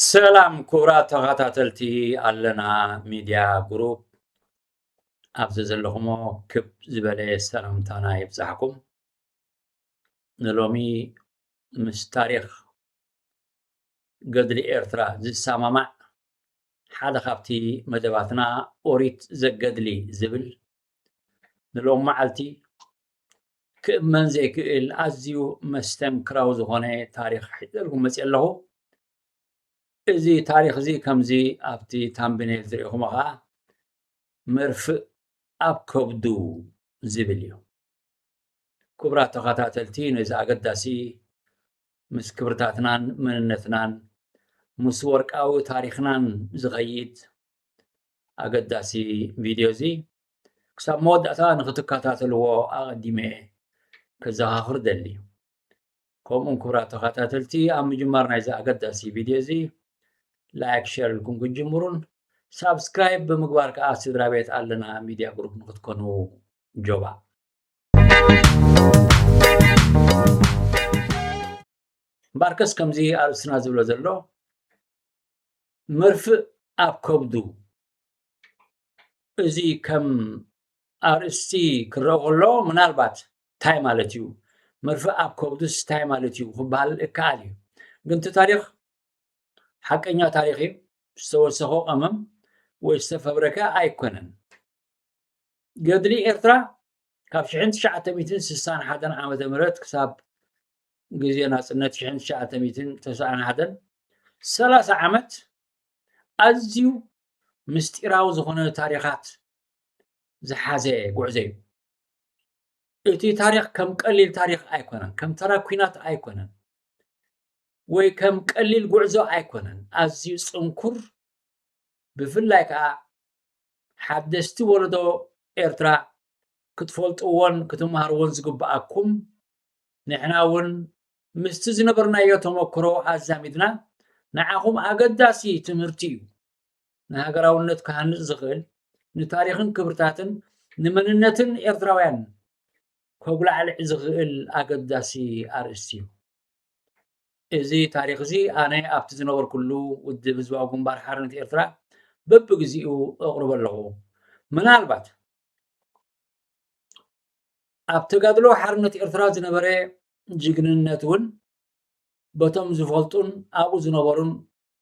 ሰላም ክቡራት ተኸታተልቲ ኣለና ሚድያ ግሩፕ ኣብዚ ዘለኹሞ ክብ ዝበለ ሰላምታና ይብዛሕኩም ንሎሚ ምስ ታሪክ ገድሊ ኤርትራ ዝሰማማዕ ሓደ ካብቲ መደባትና ኦሪት ዘገድሊ ዝብል ንሎም መዓልቲ ክእመን ዘይክእል ኣዝዩ መስተንክራዊ ዝኾነ ታሪኽ ሒዘልኩም መፅእ ኣለኹ እዚ ታሪኽ እዚ ከምዚ ኣብቲ ታምብኔል ዝሪኢኹሞ ከዓ መርፍእ ኣብ ከብዱ ዝብል እዩ ክቡራት ተኸታተልቲ ነዚ ኣገዳሲ ምስ ክብርታትናን መንነትናን ምስ ወርቃዊ ታሪኽናን ዝኸይድ ኣገዳሲ ቪድዮ እዚ ክሳብ መወዳእታ ንክትከታተልዎ ኣቐዲመ እየ ከዘኻኽር ደሊ ከምኡን ክብራት ተኸታተልቲ ኣብ ምጅማር ናይዚ ኣገዳሲ ቪድዮ እዚ ላይክ ሸር ኢልኩም ክትጅምሩን ሳብስክራይብ ብምግባር ከዓ ስድራ ቤት ኣለና ሚድያ ግሩፕ ንክትኮኑ ጆባ እምበኣርከስ ከምዚ ኣርእስትና ዝብሎ ዘሎ መርፍእ ኣብ ከብዱ እዚ ከም ኣርእስቲ ክረኦ ከሎ ምናልባት እንታይ ማለት እዩ መርፍእ ኣብ ከብዱስ እንታይ ማለት እዩ ክበሃል እከኣል እዩ ግን እቲ ታሪክ ሓቀኛ ታሪክ እዩ ዝተወሰኮ ቀመም ወይ ዝተፈብረከ ኣይኮነን ገድሊ ኤርትራ ካብ 1961 ዓ ም ክሳብ ግዜ ናጽነት ሽሕን ትሽዓተ ሚእትን ተስዓን ሓደን ሰላሳ ዓመት ኣዝዩ ምስጢራዊ ዝኾነ ታሪኻት ዝሓዘ ጉዕዞ እዩ እቲ ታሪኽ ከም ቀሊል ታሪኽ ኣይኮነን ከም ተራ ኩናት ኣይኮነን ወይ ከም ቀሊል ጉዕዞ ኣይኮነን ኣዝዩ ጽንኩር ብፍላይ ከዓ ሓደስቲ ወለዶ ኤርትራ ክትፈልጥዎን ክትመሃርዎን ዝግብኣኩም ንሕና እውን ምስቲ ዝነበርናዮ ተመክሮ ኣዛሚድና ንዓኹም ኣገዳሲ ትምህርቲ እዩ፣ ንሃገራውነት ክሃንጽ ዝኽእል፣ ንታሪኽን ክብርታትን ንመንነትን ኤርትራውያን ከጉላዕልዕ ዝኽእል ኣገዳሲ ኣርእስቲ እዩ። እዚ ታሪኽ እዚ ኣነ ኣብቲ ዝነበርኩሉ ውድብ ህዝባዊ ግንባር ሓርነት ኤርትራ በብግዜኡ እቕርቦ ኣለኹ። ምናልባት ኣብ ተጋድሎ ሓርነት ኤርትራ ዝነበረ ጅግንነት እውን በቶም ዝፈልጡን ኣብኡ ዝነበሩን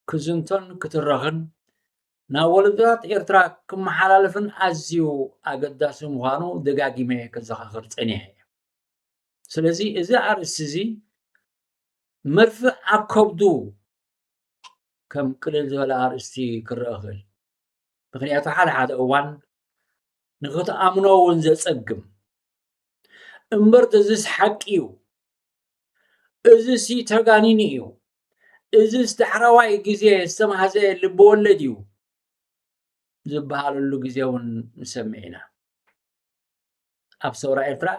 ክዝንቶን ክትረኽን ናብ ወለዶታት ኤርትራ ክመሓላለፍን ኣዝዩ ኣገዳሲ ምዃኑ ደጋጊመ ከዘኻኽር ጸኒሐ እየ። ስለዚ እዚ ኣርእስቲ እዚ መርፍእ ኣብ ከብዱ ከም ቅልል ዝበለ ኣርእስቲ ክረአ ክእል ምክንያቱ ሓደ ሓደ እዋን ንኽትኣምኖ እውን ዘጸግም እምበር እዚስ ሓቂ እዩ እዚ ሲ ተጋኒኑ እዩ እዚ ዳሕረዋይ ግዜ ዝተማህዘ ልቢ ወለድ እዩ ዝበሃለሉ ግዜ እውን ንሰምዕ ኢና ኣብ ሰውራ ኤርትራ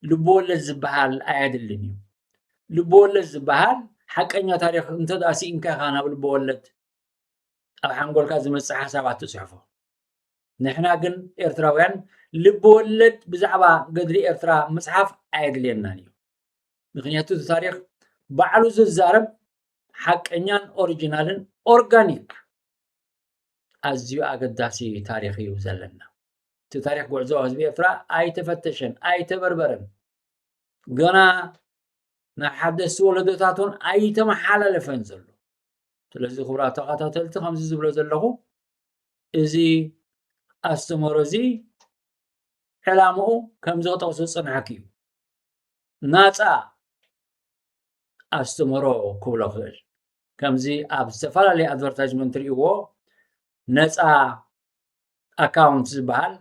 ልቢ ወለድ ዝበሃል ኣየድልን እዩ ልቢ ወለድ ዝበሃል ሓቀኛ ታሪክ እንተ ስኢንካ ኢኻ ናብ ልቢ ወለድ ኣብ ሓንጎልካ ዝመፅእ ሓሳባት ትፅሕፎ ንሕና ግን ኤርትራውያን ልቢ ወለድ ብዛዕባ ገድሊ ኤርትራ ምጽሓፍ ኣየድልየናን እዩ ምክንያቱ እቲ ታሪክ ባዕሉ ዝዛረብ ሓቀኛን ኦሪጂናልን ኦርጋኒክ ኣዝዩ ኣገዳሲ ታሪክ እዩ ዘለና እቲ ታሪክ ጉዕዞ ህዝቢ ኤርትራ ኣይተፈተሸን ኣይተበርበረን ገና ናብ ሓደስቲ ወለዶታት እውን ኣይተመሓላለፈን ዘሎ ስለዚ ክብራ ተኸታተልቲ ከምዚ ዝብሎ ዘለኹ እዚ ኣስተምህሮ እዚ ዕላምኡ ከምዚ ክጠቕሶ ዝጸናሕኩ እዩ። ናጻ ኣስተምህሮ ክብሎ ክእል ከምዚ ኣብ ዝተፈላለየ ኣድቨርታይዝመንት ትርእይዎ ነጻ ኣካውንት ዝበሃል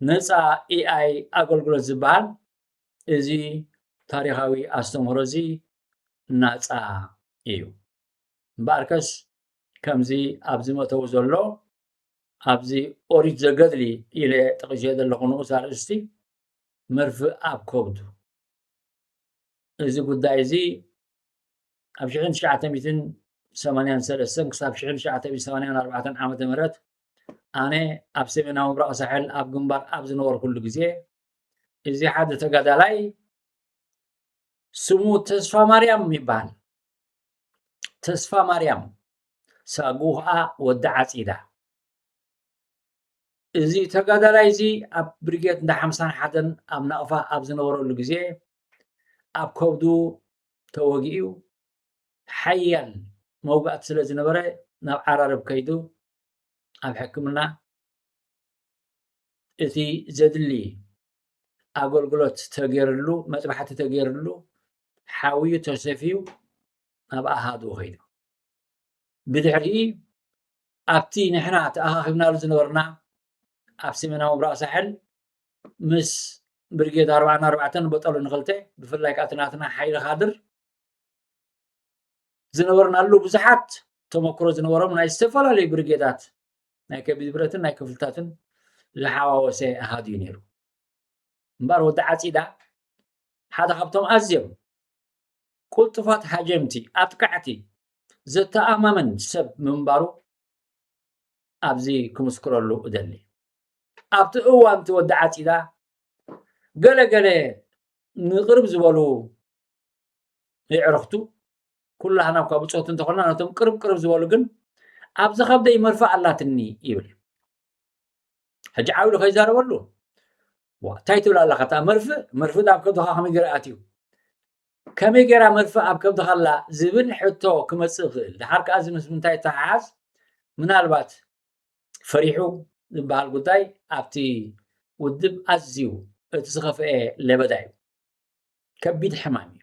ነጻ ኤኣይ ኣገልግሎት ዝበሃል እዚ ታሪኻዊ ኣስተምህሮ እዚ ናጻ እዩ እምበኣርከስ ከምዚ ኣብዚ መተው ዘሎ ኣብዚ ኦሪት ዘገድሊ ኢለ ጠቒሸ ዘለኹ ንኡስ ኣርእስቲ መርፍእ ኣብ ከብዱ እዚ ጉዳይ እዚ ኣብ ሽሕን ትሽዓተ ሚትን ሰማንያን ሰለስተን ክሳብ ሽሕን ትሽዓተ ሚትን ሰማንያን ኣርባዕተን ዓመተ ምህረት ኣነ ኣብ ሰሜናዊ ምብራቕ ሳሕል ኣብ ግንባር ኣብ ዝነበርኩሉ ግዜ እዚ ሓደ ተጋዳላይ ስሙ ተስፋ ማርያም ይበሃል ተስፋማርያም ሳጉኣ ወዲ ዓጺዳ እዚ ተጋዳላይ እዚ ኣብ ብሪጌድ እንዳ ሓምሳን ሓደን ኣብ ናቕፋ ኣብ ዝነበረሉ ግዜ ኣብ ከብዱ ተወጊኡ ሓያል መውጋእቲ ስለ ዝነበረ ናብ ዓራርብ ከይዱ ኣብ ሕክምና እቲ ዘድሊ ኣገልግሎት ተገይርሉ መጥባሕቲ ተገይርሉ ሓውዩ ተሰፍዩ ናብ ኣሃዱ ከይዱ ብድሕሪኢ ኣብቲ ንሕና ተኣኻኺብናሉ ዝነበርና ኣብ ሰሜናዊ ምብራቕ ሳሕል ምስ ብርጌድ ኣርባዕና ኣርባዕተን በጠሉ ንክልተ ብፍላይ ከዓ ትናትና ሓይሊ ካድር ዝነበርናሉ ብዙሓት ተመክሮ ዝነበሮም ናይ ዝተፈላለዩ ብርጌዳት ናይ ከቢድ ብረትን ናይ ክፍልታትን ዝሓዋወሰ ኣሃዱ እዩ ነይሩ እምበር ወዲ ዓፂዳ ሓደ ካብቶም ኣዝዮም ቁልጡፋት ሃጀምቲ፣ ኣጥቃዕቲ፣ ዘተኣማምን ሰብ ምንባሩ ኣብዚ ክምስክረሉ እደሊ። ኣብቲ እዋን እቲ ወዲ ዓጺዳ ገለ ገለ ንቅርብ ዝበሉ የዕርኽቱ ኩላህና እኳ ብጾት እንተኾና ነቶም ቅርብ ቅርብ ዝበሉ ግን ኣብ ዝኸብደይ መርፋእ ኣላትኒ ይብል ሕጂ ዓብሉ ከይዛረበሉ ዋ እንታይ ትብል ኣለካ እታ መርፍእ መርፍእ ኣብ ከብድካ ከመይ ገይሩ ኣትዩ ከመይ ገይራ መርፍእ ኣብ ከብድካ ኣላ ዝብል ሕቶ ክመፅእ ይኽእል ድሓር ከዓ እዚ ምስ ምንታይ ተሓሓዝ ምናልባት ፈሪሑ ዝበሃል ጉዳይ ኣብቲ ውድብ ኣዝዩ እቲ ዝኸፍአ ለበዳ እዩ ከቢድ ሕማም እዩ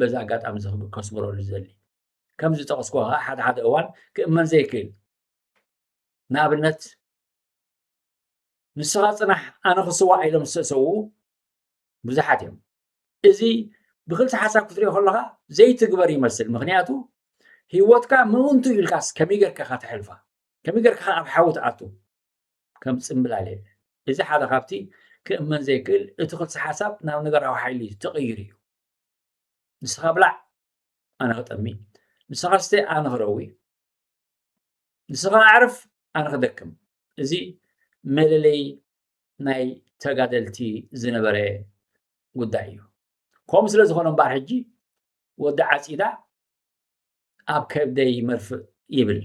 በዚ ኣጋጣሚ እዚ ከስምረሉ ዝደሊ ከም ዝጠቕስኩ ከዓ ሓደ ሓደ እዋን ክእመን ዘይክእል ንኣብነት ንስኻ ፅናሕ ኣነ ክስዋዕ ኢሎም ዝተሰውኡ ብዙሓት እዮም እዚ ብክልቲ ሓሳብ ክትሪኦ ከለካ ዘይትግበር ይመስል ምክንያቱ ሂወትካ ምእንቱ ኢልካስ ከመይ ገርካ ኢካ ተሕልፋ ከመይ ገርካ ከ ኣብ ሓዊ ትኣቱ ከም ፅምብላል የለ እዚ ሓደ ካብቲ ክእመን ዘይክእል እቲ ክልሲ ሓሳብ ናብ ነገራዊ ሓይሊ ተቐይሩ እዩ ንስኻ ብላዕ ኣነ ክጠሚ ንስኻ ስተ ኣነ ክረዊ ንስኻ ኣዕርፍ ኣነ ክደክም እዚ መለለይ ናይ ተጋደልቲ ዝነበረ ጉዳይ እዩ ከምኡ ስለ ዝኾነ እምበኣር ሕጂ ወዲ ዓፂዳ ኣብ ከብደይ መርፍእ ይብል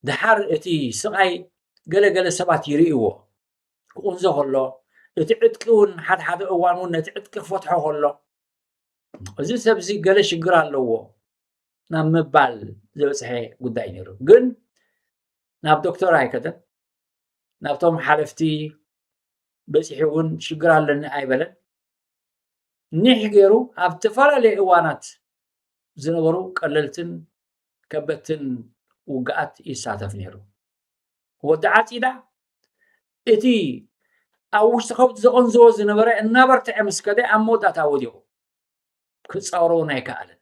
ድሓር እቲ ስቓይ ገለገለ ሰባት ይርእይዎ ክቑንዞ ከሎ እቲ ዕጥቂ እውን ሓደ ሓደ እዋን እውን ነቲ ዕጥቂ ክፈትሖ ከሎ እዚ ሰብዚ ገለ ሽግር ኣለዎ ናብ ምባል ዝበፅሐ ጉዳይ ነይሩ ግን ናብ ዶክተር ኣይከደን ናብቶም ሓለፍቲ በፂሑ እውን ሽግር ኣለኒ ኣይበለን ኒሕ ገይሩ ኣብ ዝተፈላለየ እዋናት ዝነበሩ ቀለልትን ከበድትን ውግኣት ይሳተፍ ነይሩ ወዲ ዓፂዳ እቲ ኣብ ውሽጢ ከብዱ ዘቐንዝቦ ዝነበረ እናበርትዐ ምስ ከደ ኣብ መወዳእታ ወዲቑ ክጻወሮ እውን ኣይከኣለን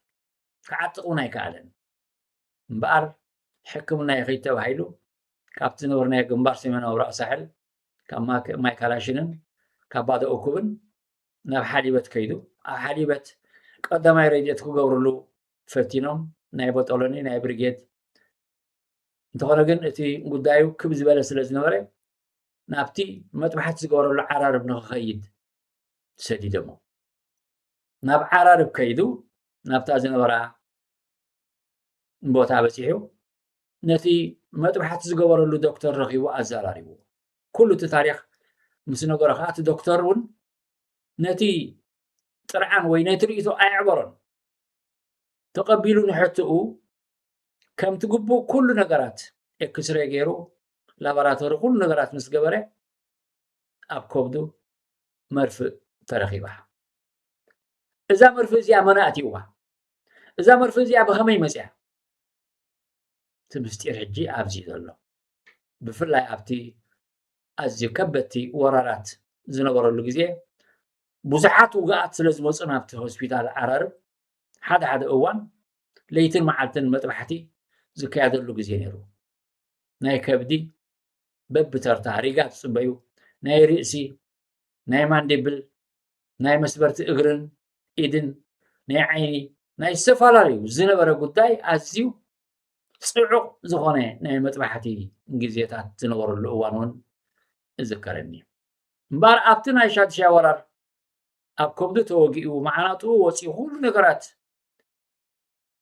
ክዓጥቕ እውን ኣይከኣለን እምበኣር ሕክምና ይኸይድ ተባሂሉ ካብቲ ዝነበርናዮ ግንባር ሰሜናዊ ራእ ሳሕል ካብ ማይ ካላሽንን ካብ ባዶ እኩብን ናብ ሓሊበት ከይዱ ኣብ ሓሊበት ቀዳማይ ረድኤት ክገብርሉ ፈቲኖም ናይ ቦጦሎኒ ናይ ብርጌድ እንተኾነ ግን እቲ ጉዳዩ ክብ ዝበለ ስለ ዝነበረ ናብቲ መጥባሕቲ ዝገበረሉ ዓራርብ ንክኸይድ ሰዲደሞ ናብ ዓራርብ ከይዱ ናብታ ዝነበራ ቦታ በፂሑ ነቲ መጥባሕቲ ዝገበረሉ ዶክተር ረኺቡ ኣዘራሪቡ ኩሉ እቲ ታሪክ ምስ ነገሮ ከዓ እቲ ዶክተር እውን ነቲ ጥርዓን ወይ ነቲ ርእቶ ኣየዕበሮን ተቐቢሉ ንሕትኡ ከምቲ ግቡእ ኩሉ ነገራት ኤክስሬ ገይሩ ላቦራቶሪ ኩሉ ነገራት ምስ ገበረ ኣብ ከብዱ መርፍእ ተረኺባ እዛ መርፍእ እዚኣ መን ኣእትይዋ እዛ መርፍእ እዚኣ ብኸመይ መፅያ እቲ ምስጢር ሕጂ ኣብዚ ዘሎ ብፍላይ ኣብቲ ኣዝዩ ከበድቲ ወራራት ዝነበረሉ ግዜ ብዙሓት ውግኣት ስለ ዝመፁ ናብቲ ሆስፒታል ዓራርብ ሓደ ሓደ እዋን ለይትን መዓልትን መጥባሕቲ ዝካየደሉ ግዜ ነይሩ። ናይ ከብዲ በብተርታ ሪጋ ትጽበዩ፣ ናይ ርእሲ፣ ናይ ማንዲብል፣ ናይ መስበርቲ እግርን ኢድን፣ ናይ ዓይኒ፣ ናይ ዝተፈላለዩ ዝነበረ ጉዳይ ኣዝዩ ጽዑቕ ዝኾነ ናይ መጥባሕቲ ግዜታት ዝነበረሉ እዋን እውን እዝከረኒ እዩ። እምበኣር ኣብቲ ናይ ሻድሻይ ወራር ኣብ ከብዱ ተወጊኡ መዓናጥኡ ወፂኡ ኩሉ ነገራት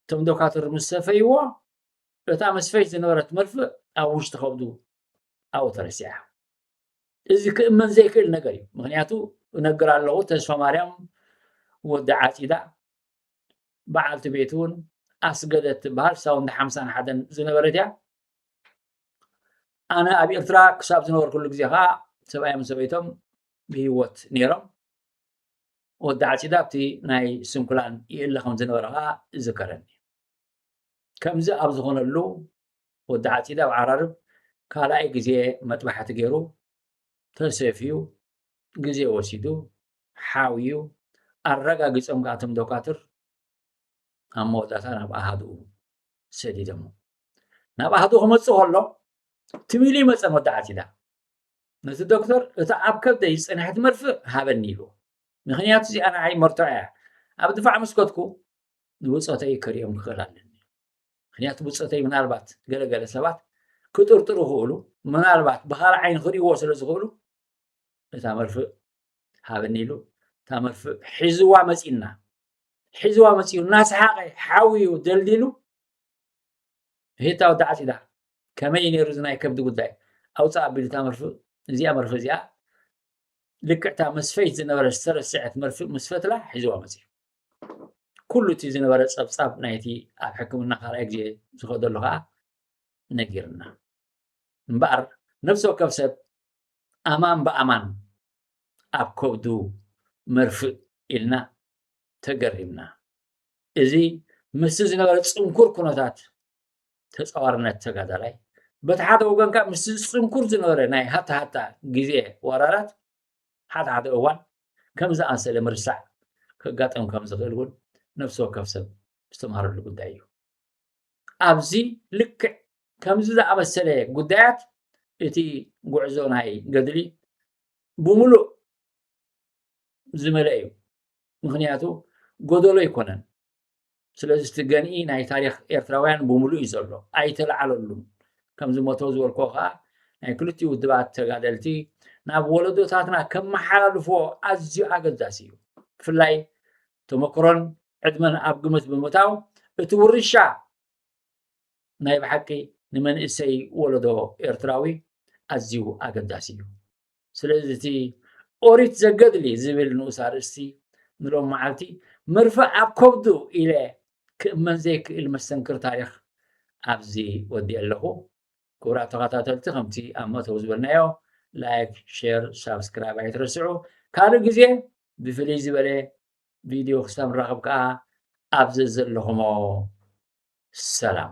እቶም ዶካትር ምስ ሰፈይዎ እታ መስፈይት ዝነበረት መርፍእ ኣብ ውሽጢ ከብዱ ኣብኡ ተረሲዓ እዚ ክእመን ዘይክእል ነገር እዩ ምክንያቱ እነግር ኣለኹ ተስፋ ማርያም ወዲ ዓፂዳ በዓልቲ ቤት እውን ኣስገደት ትበሃል ሳውንድ ሓምሳን ሓደን ዝነበረት እያ ኣነ ኣብ ኤርትራ ክሳብ ዝነበርኩሉ ግዜ ከዓ ሰብኣዮም ሰበይቶም ብሂወት ነይሮም ወዲ ዓጺዳ ኣብቲ ናይ ስንኩላን ይእለ ከም ዝነበረ ከኣ ይዝከረኒ። ከምዚ ኣብ ዝኾነሉ ወዲ ዓጺዳ ኣብ ዓራርብ ካልኣይ ግዜ መጥባሕቲ ገይሩ ተሰፍዩ ግዜ ወሲዱ ሓውዩ ኣረጋጊጾም ከኣ እቶም ዶካትር ኣብ መወዳእታ ናብ ኣሃድኡ ሰዲዶሞ ናብ ኣሃዱ ክመጽእ ከሎ ትሚሊ መጸን ወዲ ዓጺዳ ነቲ ዶክተር እታ ኣብ ከብደይ ዝጸንሐት መርፍእ ሃበኒ ኢልዎ። ምኽንያቱ እዚኣ ንዓይ መርትዖ እያ። ኣብ ድፋዕ ምስ ከድኩ ንብጾተይ ክርእዮም ክኽእል ኣለኒ። ምኽንያቱ ብጾተይ ምናልባት ገለ ገለ ሰባት ክጥርጥሩ ይኽእሉ፣ ምናልባት ብኻልእ ዓይኒ ክርእይዎ ስለ ዝኽእሉ እታ መርፍእ ሃበኒ ኢሉ እታ መርፍእ ሒዝዋ መጺና ሒዝዋ መጺኡ እናሰሓቐ ሓውዩ ደልዲሉ ሄታ ወዳዓት ኢላ ከመይ እዩ ነይሩ እዚ ናይ ከብዲ ጉዳይ ኣውፃእ ኣቢሉ እታ መርፍእ እዚኣ መርፍእ እዚኣ ልክዕ እታ መስፈይት ዝነበረ ዝተረስዐት መርፍእ ምስ ፈትላ ሒዝዋ መፅዩ ኩሉ እቲ ዝነበረ ፀብፃብ ናይቲ ኣብ ሕክምና ካልኣይ ግዜ ዝኸደሉ ከዓ ነጊርና እምበኣር ነብሲ ወከፍ ሰብ ኣማን ብኣማን ኣብ ከብዱ መርፍእ ኢልና ተገሪምና እዚ ምስቲ ዝነበረ ፅንኩር ኩነታት ተጻዋርነት ተጋዳላይ በቲ ሓደ ወገን ከዓ ምስ ዝፅንኩር ዝነበረ ናይ ሃታ ሃታ ግዜ ወራራት ሓደ ሓደ እዋን ከም ዝኣንሰለ ምርሳዕ ከጋጥም ከም ዝኽእል እውን ነፍሲ ወከፍ ሰብ ዝተምሃረሉ ጉዳይ እዩ ኣብዚ ልክዕ ከምዚ ዝኣመሰለ ጉዳያት እቲ ጉዕዞ ናይ ገድሊ ብምሉእ ዝመለእ እዩ ምክንያቱ ጎደሎ ኣይኮነን ስለዚ እቲ ገንኢ ናይ ታሪኽ ኤርትራውያን ብምሉእ እዩ ዘሎ ኣይተለዓለሉን ከም ዝሞተው ዝበልኮ ከዓ ናይ ክልቲኡ ውድባት ተጋደልቲ ናብ ወለዶታትና ከመሓላልፎ ኣዝዩ ኣገዳሲ እዩ ብፍላይ ተመክሮን ዕድመን ኣብ ግምት ብምእታው እቲ ውርሻ ናይ ብሓቂ ንመንእሰይ ወለዶ ኤርትራዊ ኣዝዩ ኣገዳሲ እዩ ስለዚ እቲ ኦሪት ዘገድሊ ዝብል ንኡስ ኣርእስቲ ንሎም መዓልቲ ምርፋእ ኣብ ከብዱ ኢለ ክእመን ዘይክእል መስተንክር ታሪኽ ኣብዚ ወዲኤ ኣለኹ። ክቡራት ተኸታተልቲ ከምቲ ኣብ መእተዊ ዝበልናዮ ላይክ፣ ሼር፣ ሳብስክራይብ ኣይትረስዑ። ካልእ ግዜ ብፍልይ ዝበለ ቪድዮ ክሳብ ንራኸብ ከኣ ኣብ ዘዘለኹሞ ሰላም።